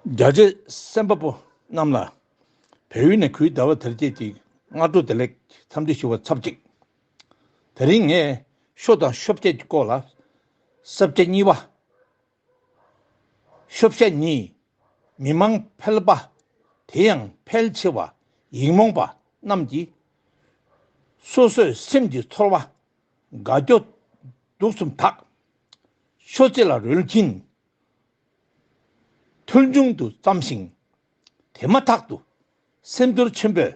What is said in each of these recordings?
རྒྱ་རྗེ་སེམས་དཔའ་པོ་རྣམས་ལ། བལ་ཡུལ་ནས་གུས་ཟླ་བ་དལ་བརྒྱད་ཀྱི་སྔ་དྲོ་བདེ་ལེགས་འཚམས་འདྲི་ཞུ་བར་འཚབ་ཅིག། དེ་རིང་ངས་ཤོ་དང་ཤོ་བརྒྱད་ཀྱི་སྐོར་ལ། སྲབ་བརྒྱད་གཉིས་པ། ཤོ་བཤད་གཉིས། མི་མང་ཕལ་པ། དེ་ཡང་ཕལ་ཆེ་བ་ཡིག་རྨོངས་པ་རྣམས་ཀྱིས། སོ་སོའི་སེམས་ཀྱི་ཚོར་བ། དགའ་སྐྱོ་སྡུག་གསུམ་དག། ཤོ་རྩེ་ལ་རོལ་གྱིན། ཐོལ་འབྱུང་དུ་བརྩམས་ཤིང། དེ་མ་ཐག་ཏུ་སེམས་ཚོར་ཆེན་པོས་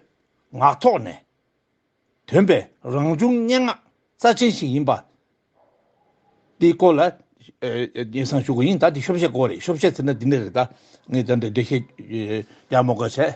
ངག་ཐོག་ནས། དོན་པའི་རང་བྱུང་སྙན་ངག་རྩ་ཆེན་ཞིག་ཡིན་པ། འདི་སྐོར་ལ། ངས་སང་ཞུ་དགོས་ཡིན་ད་འདི་ཤོ་བཤད་སྐོར་རེད་ཤོ་བཤད་ཟེར་ན་འདི་འདྲ་རེད་ད། ངས་ད་འདི་འདྲ་བཤད་རྒྱ་མོ་དགའ་བྱས།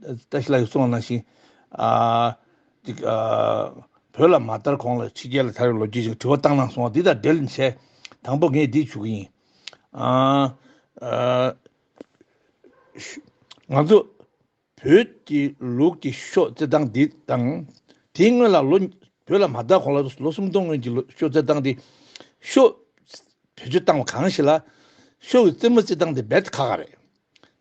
བཀྲ་ཤིས་ལགས་གསུང་བ་ནང་བཞིན། འདི། བོད་ལ་མ་དར་གོང་ལ་ཕྱི་རྒྱལ་ལ་དར་བའི་ལོ་རྒྱུས་ཅིག་དྲི་བ་བཏང་གནང་སོང་བ་འདི་དང་འབྲེལ་ནས། དང་པོ་ངས་འདི་ཞུ་གི་ཡིན། ང་ཚོ། བོད་ཀྱི་ལུགས་ཀྱི་ཤོག་རྩེད་སྟངས་འདི་དང། དེའི་སྔོན་ལ་ལོ། བོད་ལ་མ་དར་གོང་ལ་ལོ་སུམ་སྟོང་སྔོན་གྱི་ཤོག་རྩེད་སྟངས་འདི། ཤོག། བེད་སྤྱོད་བཏང་བ་གང་ཞིག་ལ། ཤོག་གི་རྩེད་མོ་རྩེད་སྟངས་འདི་རྦད་དེ་ཁག་ཁག་རེད།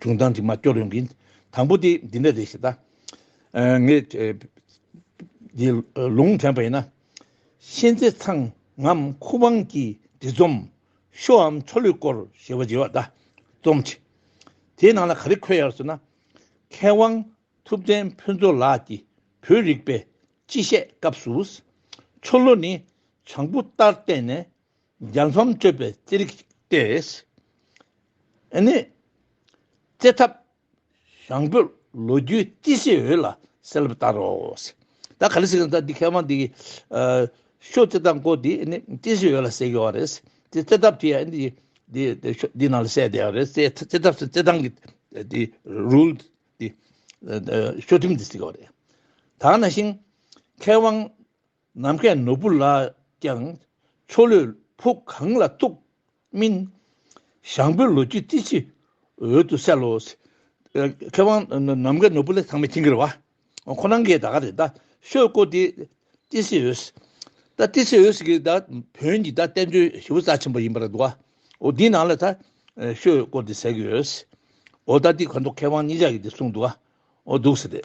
བྱུང་དང་དྲི་མ་སྐྱོ་རེངས་ཀྱིས། དང་པོ་དེ་འདི་འདྲ་རེད་ཞེས་བལྟ། ངས། འདི་ལུང་དྲན་པ་ཡིན་ན། གཤེན་རྩེ་ཚང་ངམ་ཁུ་དབང་གི་འབྲི་རྩོམ། ཤོ་འམ་ཆོ་ལོའི་སྐོར་ཞེས་བརྗེ་བ་བལྟ། རྩོམ་ཆེ། དེའི་ནང་ལ་ག་རེ་འཁོད་ཡ་རེད་ཟེར་ན། མཁས་དབང་ཐུབ་བསྟན་ཕུན་ཚོགས་ལགས་ཀྱི་བོད་རིག་པའི་སྤྱི་བཤད་སྐབས་སུ། ཆོ་ལོ་ནི་བྱང་བུ་ལྟར་བསྟན་ནས། རྒྱལ་མཚམས་གཅོད་པའི་རྩིས་རིག་ཅིག་སྟེ། ཨེ་ནས། བརྩེ་ཐབས་ཞང་བོད་ལོ་རྒྱུས་རྩིས་སྲས་འོད་ལ་གསལ་བར་ལྟར་རོ། ད་ག་ལ་སྲིད་ད་འདི་མཁས་དབང་འདི་ཤོ་རྩེ་ཐབས་སྐོར་འདི་རྩིས་སྲས་འོད་ལ་གསལ་གི་བ་རེད། དེ་རྩེ་ཐབས་དེ་ཡང་འདི་ཤོ་འདི་ནང་ལ་གསལ་བསྡད་བ་རེད། རྩེ་ཐབས་སུ་རྩེ་ཐང་གི་འདི་རུལ་འདི་ཤོ་ཐིམ་འདི་གཟིགས་བ་རེད། ད་ནང་བཞིན་མཁས་དབང། ནམ་མཁའི་ནོར་བུ་ལ་ཀྱང་ཆོ་ལོས་ཕུག་གང་ལ་ཐུག་སྨིན། ཞང་པོའི་ལོ་རྒྱུས་ཏི་ཆུའི་འོད་དུ་གསལ་ལོ། མཁས་དབང་ནམ་མཁའི་ནོར་བུ་ལས་ཚང་མས་ཁྱིང་གིར་བ། ཁོ་རང་གིས་ད་ག་རེད་ད་ཤོད་བཀོད་དེ་ཏི་སེ་འོད། ད་ཏི་སེ་འོད་ཀྱིས་ད་བོན་གྱི་ད་བསྟན་བཅོས་ཞི་བོ་རྩ་ཆེན་པོ་ཡིན་པར་འདུག་ཨོ་འདིའི་ནང་ལ་ད་ཤོད་བཀོད་དེ་ཟེར་གི་ཡོད། ཨོ་ད་འདི་གོ་མདོག་མཁས་དབང་གཉིས་ཅག་གིས་དེ་གསུངས་འདུག་ཨོ་འདུག་ཟེར།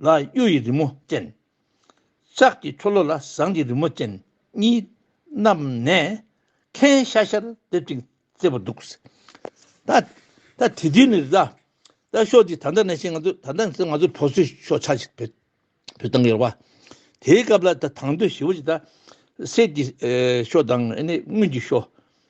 ལ་གཡུ་ཡི་རི་མོ་ཅན། ལྕགས་ཀྱི་ཆོ་ལོ་ལ་ཟངས་ཀྱི་རི་མོ་ཅན་གཉིས་བསྣམས་ནས། ཁའི་ཤ་ཤར་འདེབས་ཅིང་རྩེ་བར་འདུག། ད་དེ་དུས་ནས་རེད་ད། ད་ཤོག་དེ་ད་ལྟ་ནས་བཤད་ང་ཚོ་ད་ལྟ་ང་ཚོ་བོད་སོས་ཤོག་ཆ་ཞིག་བོད་བཏང་གི་རེད་བ། དེའི་སྐབས་ལ་ད་དང་དོད་ཞི་བ་ཞིག་ད། གསེར་གྱི་ཤོག་དང་དངུལ་གྱི་ཤོག།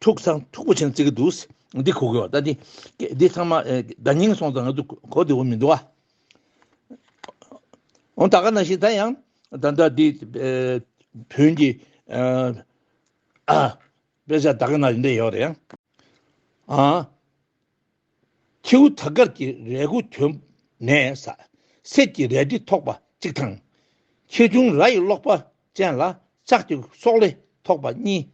ཐུགས་གསང་མཐུག་པོ་བྱིན་རྩི་གི་འདུག། འདི་གོ་དགོས་བ་ལྟ་སྟེ། འདི་ཚང་མ་བརྡ་རྙིང་སོང་ཙང་ང་ཚོ་གོ་དེ་འོ་མི་འདུག་ཨ། འོ་ད་ག་ན་ཞིག་ད་ཡང་ད་ལྟ་འདི་བོན་གྱི་དཔེ་ཆ་ད་ག་ན་ཡོད་འདྲ་ཡོད་རེད་ཨ། ཁྱེའུ་དར་དཀར་གྱི་རས་གུར་གྱོན་ནས་ཟ། གསེར་གྱི་རལ་གྲི་ཐོགས་པ་གཅིག་དང། ཁྱེའུ་ཆུང་ར་ཡི་སློག་པ་ཅན་ལ་ལྕགས་ཀྱི་སོག་ལེ་ཐོགས་པ་གཉིས།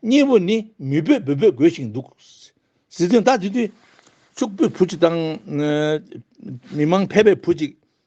གཉིས་པོ་ནི་མི་སྤོས་སྦོས་སྦོས་དགོད་བཞིན་འདུག། ཟི་ལྟོས་ཟླ་འདི་དུས་ཕྱུག་པོའི་བུ་གཅིག་དང། མི་མང་ཕལ་པའི་བུ་གཅིག་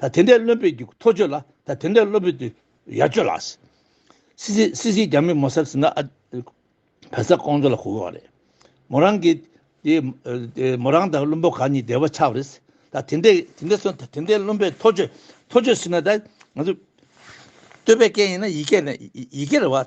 ད་དེ་འདྲའི་བློན་པོས་ཀྱི་ཐོ་བཅོས་ལ་ད་དེ་འདྲའི་བློན་པོས་ཏུ་ཡར་བཅོས་ལ། སི་སི་སི་སི་རྒྱ་མི་མོ་སར་ཟིན་ན་ཨ། བལ་ས་ཀོང་ཇོ་ལ་གོ་གི་བ་རེད། མོ་རང་གི། དེ། མོ་རང་དང་བློན་པོ་གང་གཉིས་བདེ་བ་ཆགས་བ་རེད། ད་དེ་འདྲའི་དེ་འདྲའི་སོ་ད་དེ་འདྲའི་བློན་པོས་ཐོ་བཅོས་ཐོ་བཅོས་ཟིན་ན་ད། ང་ཚོ། བསྟོད་པའི་སྐད་ཡིན་ན་ཡིག་སྐད་ཡིག་སྐད་རེད་བ།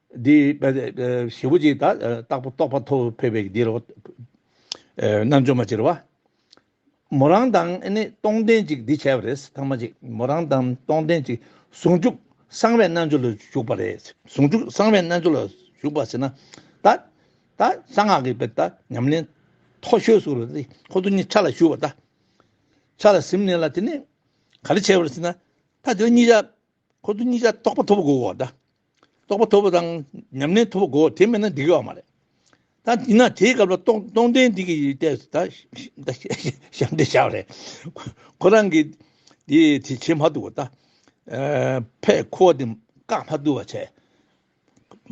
འདི། བྱེད་པོ་གཅིག་དང་རྟག་པ་རྟོགས་པ་ཐོབ་ཕོད་པའི་འདི་རུ། རྣལ་འབྱོར་མ་བྱེད་རུང་བ། མོ་རང་དང་ནི་སྟོང་ལྡན་ཅིག་འདི་བྱས་པ་རེད་ཐང་མ་ཅིག་མོ་རང་དང་སྟོང་ལྡན་ཅིག་ཟུང་འཇུག་གསང་བའི་རྣལ་འབྱོར་ལ་ཞུགས་པ་རེད་ཟུང་འཇུག་གསང་བའི་རྣལ་འབྱོར་ལ་ཞུགས་པ་ཟེར་ན། ད། ད་གསང་སྔགས་ཀྱི་དཔེར་ད་ཉམས་ལེན་མཐོ་ཤོས་སུ་རེད་ཁོ་ཚོ་གཉིས་ཆ་ལ་ཞུགས་པ་ད། ཆ་ལ་གཟིམས་ནས་ལ་དེ་ནི་ག་རེ་བྱས་པ་རེད་ཟེར་ན། ད་དེ་ལ་གཉིས་ཆ་ཁོ་ཚོ་གཉིས་ཀ་རྟོགས་པ་ཐོབ་པ་དགོས་གོ། རྟོགས་པ་ཐོབ་པ་དང་ཉམས་ལེན་ཐོབ་པ་དགོས་དེ་མེད་ན་འགྲིག་ཡོད་མ་རེད། ད་ཡིན་ན་དེའི་སྐབས་ལ་སྟོང་ལྡན་འདས་ཀྱིས་ལྟས་སུ་ད་ཞབས་འདེགས་བྱ་བ་རེད། ཁོ་རང་གིས་དེ་བྱེད་མ་ཐུབ་བ། ཕས་ཁོ་བ་དེ་བཀག་མ་ཐུབ་བ་བྱས།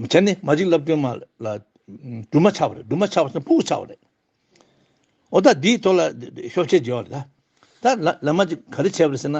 བྱས་ནས་མ་ཅིག་ལབ་སྒྲོན་མ་ལ་སྒྲུལ་མ་ཆགས་པ་རེད་སྒྲུལ་མ་ཆགས་པ་ཚོ་ཕུག་ཆགས་པ་རེད། འོ་ད་དེའི་ཐོག་ལ་ཤོག་ཆད་བྱས་བ་རེད། ད་ལ་མ་ཅིག་ག་རེ་བྱས་པ་རེད་ཟེར་ན།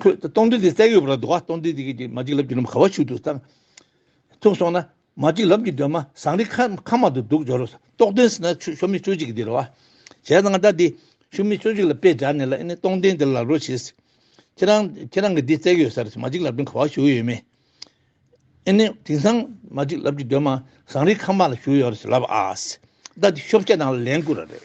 ཁོས་སྟོང་འདི་དེ་བསྲེགས་ཡོད་པ་ལ་དུ་བ་སྟོང་འདི་དེ་གི་མ་ཅིག་ལབ་ཀྱི་ནུབ་ག་བ་ཆུ་དུ་ཐང་ཐུག་སོང་ན་མ་ཅིག་ལབ་ཀྱི་སྡོད་མ་ཟངས་རི་ཁ་མ་དུ་འདུག་འཇོ་རུ་ཏོག་ཏོན་ཟིན་ན་ཆུ་ཤོ་མི་ཅོ་ཅིག་གི་དེ་རུ་བ་བྱས་ཟངས་ད་དེ་ཤུ་མི་ཅོ་ཅིག་ལ་དཔེ་སྦྱར་ནས་ལ་ཨེ་ནི་སྟོང་འདི་དེ་ལ་ལབ་རོ་བྱས་སི་ཁྱེད་རང་ཁྱེད་རང་གི་འདི་བསྲེགས་ཡོད་ས་རུ་མ་ཅིག་ལབ་ཀྱི་ག་བ་ཞུགས་ཡོད་མེད་ཨེ་ནི་དེང་སང་མ་ཅིག་ལབ་ཀྱི་སྡོད་མ་ཟངས་རི་ཁ་མ་ལ་ཞུགས་ཡོད་རུ་ལབ་ཨ་སི་ད་དེ་ཤོ་བྱས་ནང་ལ་ལན་བསྐུར་ར་རེད།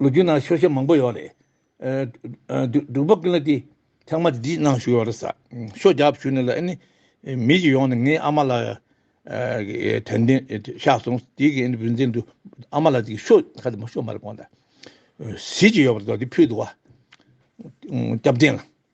ལོ་རྒྱུས་ནང་ཤོ་ཤེ་མང་པོ་ཡོད་རེད། འབྲུག་པ་ཀུན་ལ་དེ་ཚང་མ་འདྲིས་གནང་ཞུ་ཡོད་རེད་ས་ཤོ་རྒྱབ་ཞུ་ནས་ལ་ཨེ་ནི། མི་ཞིག་ཡོང་ནས་ངའི་ཨ་མ་ལ་དོན་ལྡན་ཤག་སོང་དེ་གི་ཨེ་ནི་བུན་འཛིན་དུ་ཨ་མ་ལ་དེ་གི་ཤོ་ཁ་དེ་མ་ཤོ་མ་རེད་གོང་ད། ཟིས་ཀྱི་ཡོད་པ་རེད་དོ་དེ་ཕུད་དུ་བ། སྐྱབས་ལྡན་ལ།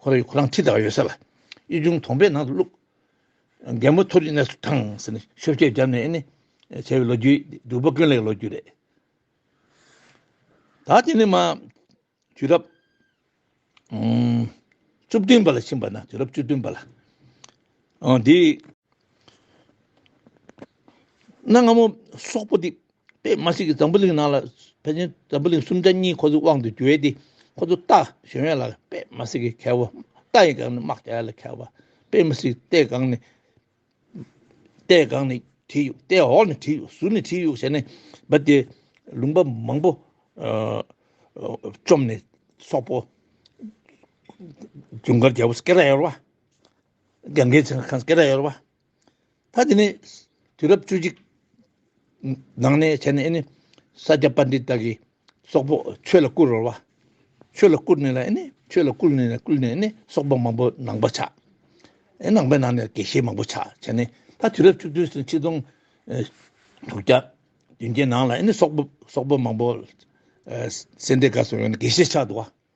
ཁོ་རང་གིས་ཁོ་རང་ཁྲི་བདག་ཡོད་ས་ལ་དབྱིས་ཆུང་དོང་པའི་ནང་དུ་བླུགས། རྒན་མོ་ཐུགས་རྗེ་གནས་སུ་དྲངས་ཟེར་ནས་ཤོ་བསྐྱལ་བརྒྱབ་ནས་ནི། བྱས་པའི་ལོ་རྒྱུས་འདི་སྒྲུབ་པ་ཀུན་ལས་ཀྱི་ལོ་རྒྱུས་རེད། ད་དེ་ནི་མ། དུས་རབས། བཅུ་བདུན་པ་ལ་ཕྱིན་པ་ན་དུས་རབས་བཅུ་བདུན་པ་ལ། འདིའི། གནའ་སྔ་མོ་སོག་པོ་འདི་པད་མ་སྲིད་ཀྱི་འཛམ་བུ་གླིང་ནང་ལ་ཕལ་ཆེན་འཛམ་བུ་གླིང་སུམ་ཆ་གཉིས་ཁོ་ཚོའི་དབང་དུ་འགྱུར་ཏེ་ཁོ་ཚོ་རྟ་གཞོན་ཡོད་ལ་པད་མ་སྲིད་ཀྱི་ཁལ་བ་རྟ་ཡི་སྒང་ནས་དམག་རྒྱག་ཡོད་ལ་ཁལ་བ་པད་མ་སྲིད་རྟའི་སྒང་ནས་རྟའི་སྒང་ནས་བྲིས་ཡོད་རྟའི་འོག་ནས་བྲིས་ཡོད་ཟུར་ནས་བྲིས་ཡོད་བྱས་ནས་འབབ་དེ་ལུང་པ་མང་པོ་བཅོམ་ནས་སོག་པོ་ཇུན་གར་རྒྱལ་པོ་སྐེ་རགས་ཡོད་ར་བ་རྒྱ་འགལ་ཚེ་ཁང་སྐེ་རགས་ཡོད་ར་བ། ད་དེ་ནས་དུས་རབས་བཅུ་གཅིག་ནང་ནས་བྱས་ནས་ཨེ་ནི་ས་སྐྱ་པ་འདི་དག་གིས་སོག་པོ་ཆོས་ལ་བསྐུར་རོལ་བ། ཆོས་ལ་བསྐུར་ནས་ལ་ཨེ་ནི་ཆོས་ལ་བསྐུར་ནས་ལ་བསྐུར་ནས་ཨེ་ནི་སོག་པོ་མང་པོ་ནང་པ་ཆགས། ཨེ་ནང་པའི་ནང་ནས་དགེ་བཤེས་མང་པོ་ཆགས་བྱས་ནས་ད་དུས་རབས་བཅུ་བདུན་སོ་ཆིག་སྟོང་དྲུག་བརྒྱ་བདུན་བརྒྱའི་ནང་ལ་ཨེ་ནི་སོག་པོ་སོག་པོ་མང་པོ་སེ་འབྲས་དགའ་སོགས་ཡོང་ནས་དགེ་བཤེས་ཆགས་འདུག་བ།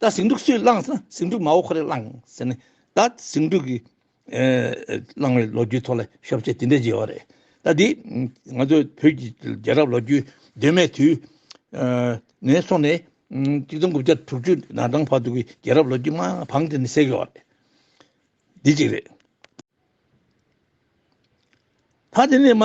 ད་ཟིང་འཁྲུག་སུས་བསླངས་ཟེར་ན་ཟིང་འཁྲུག་མའོ་ཁོ་རེ་བསླངས་ཟེར་ནས་ད་ཟིང་འཁྲུག་གི་བསླངས་བའི་ལོ་རྒྱུས་ཐོག་ལ་ཞོག་ཕྱིར་དེ་འདྲས་བརྗོད་ཡོད་རེད་ད་དེ་ང་ཚོ་བོད་ཀྱི་རྒྱལ་རབས་ལོ་རྒྱུས་གདོད་མའི་དུས་ནས་སོང་ནས་གཅིག་སྟོང་དགུ་བརྒྱ་དྲུག་ཅུ་ན་དྲང་བར་དུ་གི་རྒྱལ་རབས་ལོ་རྒྱུས་མ་འཕངས་དེ་ནི་བསྲེགས་ཡོད་རེད་འདི་གཅིག་རེད། ད་དེ་ནས་མ།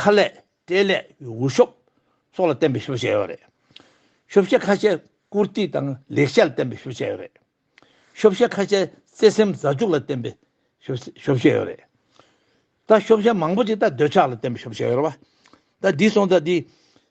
ཁ་ལས། སྐྲའི་ལས་ཀྱི་འུར་ཤོབ་སོགས་ལ་བརྟེན་པའི་ཤུབས་བྱས་ཡོད་རེད། ཤུབས་ཤ་ཁ་ཤས་བཀུར་སྟི་དང་ལེགས་ཆ་ལ་བརྟེན་པའི་ཤུབས་བྱས་ཡོད་རེད། ཤུབས་ཤ་ཁ་ཤས་བརྩེ་སེམས་མཛའ་གཅུགས་ལ་བརྟེན་པའི་ཤུབས་བྱས་ཡོད་རེད། ད་ཤུབས་ཤ་མང་པོ་ཅིག་ད་འདོད་ཆགས་ལ་བརྟེན་པའི་ཤུབས་བྱས་ཡོད་རེད། ད་འདི་སོང་ད་འདི།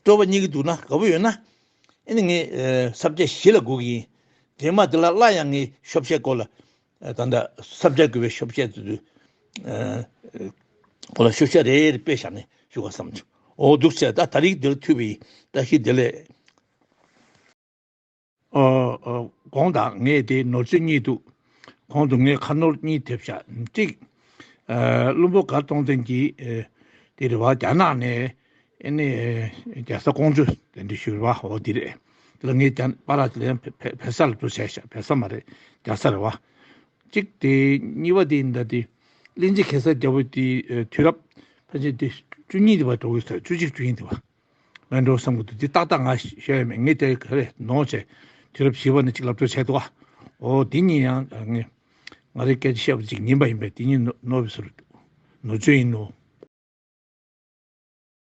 སྤྲོ་བ་གཉིས་ཀྱི་འདུག་ན་དགའ་བོ་ཡོད་ན། ཨེ་ནི་ངས་སབ་ཆ་བཞི་ལ་སྒུག་གི་ཡིན། རྗེས་མ་དེ་ལ་སླར་ཡང་ངས་ཤོབ་བཤད་སྐོར་ལ། ད་ལྟ་སབ་ཆ་དགོས་པའི་ཤོབ་བཤད་དུ་དུ། སྐོར་ལ་ཤོབ་བཤད་རེ་རེ་སྤེལ་བཞག་ནས་ཞུ་ག་བསམ། འོ་འདུག་སེ་ད་ད་རིགས་འདི་ལ་འཐུས་པའི་ཡིན་ད་ཤི་དེ་ལས། གོང་དང་ངས་དེའི་ནོར་རྩིས་གཉིས་འདུག། གོང་དུ་ངས་ཁ་ནོར་གཉིས་ཐེབས་བཞག་ཅིག། བླུན་པོ་དགའ་གཏོང་ལྡན་གྱིས་དེ་རེ་བ་རྒྱ་ནག་ནས་ནས་རྒྱལ་ས་ཀོང་ཇོ་དེ་འདྲས་ཞུ་རེ་བ་འོ་དེ་རེད། དེ་ལ་ངས་ཀྱང་པ་ར་ལན་བལ་ས་ལ་འགྲོ་བྱས་བཞག་བལ་ས་མ་རེད་རྒྱ་ས་རེ་བ། ཅིག་དེ་གཉིས་བ་དེ་འདྲ་དེ་གླིང་རྗེ་གེ་སར་རྒྱལ་པོ་དེའི་དུས་རབས་ཕལ་ཆེར་དེ་བཅུ་གཉིས་དེ་བ་འགྲོ་གི་ས་བཅུ་གཅིག་བཅུ་གཉིས་དེ་བ། ང་འགྲོ་བསམ་གྱི་འདུག་དེ་ཏག་ཏག་ང་ཤེས་ཡ་མེད་ངས་དེ་ག་རེ་ནོར་བྱས། དུས་རབས་བཞི་བ་ནི་གཅིག་ལབ་སྤྲོད་བྱས་འདུག་ཨོ་དེ་གཉིས་ཡང་ངས་ང་རེ་སྐད་ཆ་བཤད་པ་གཅིག་ཉིན་པ་ཡིན་པས་དེ་གཉིས་ནོར་བའི་ཟུར་ནོར་བཅོས་ཡིན་ནོ།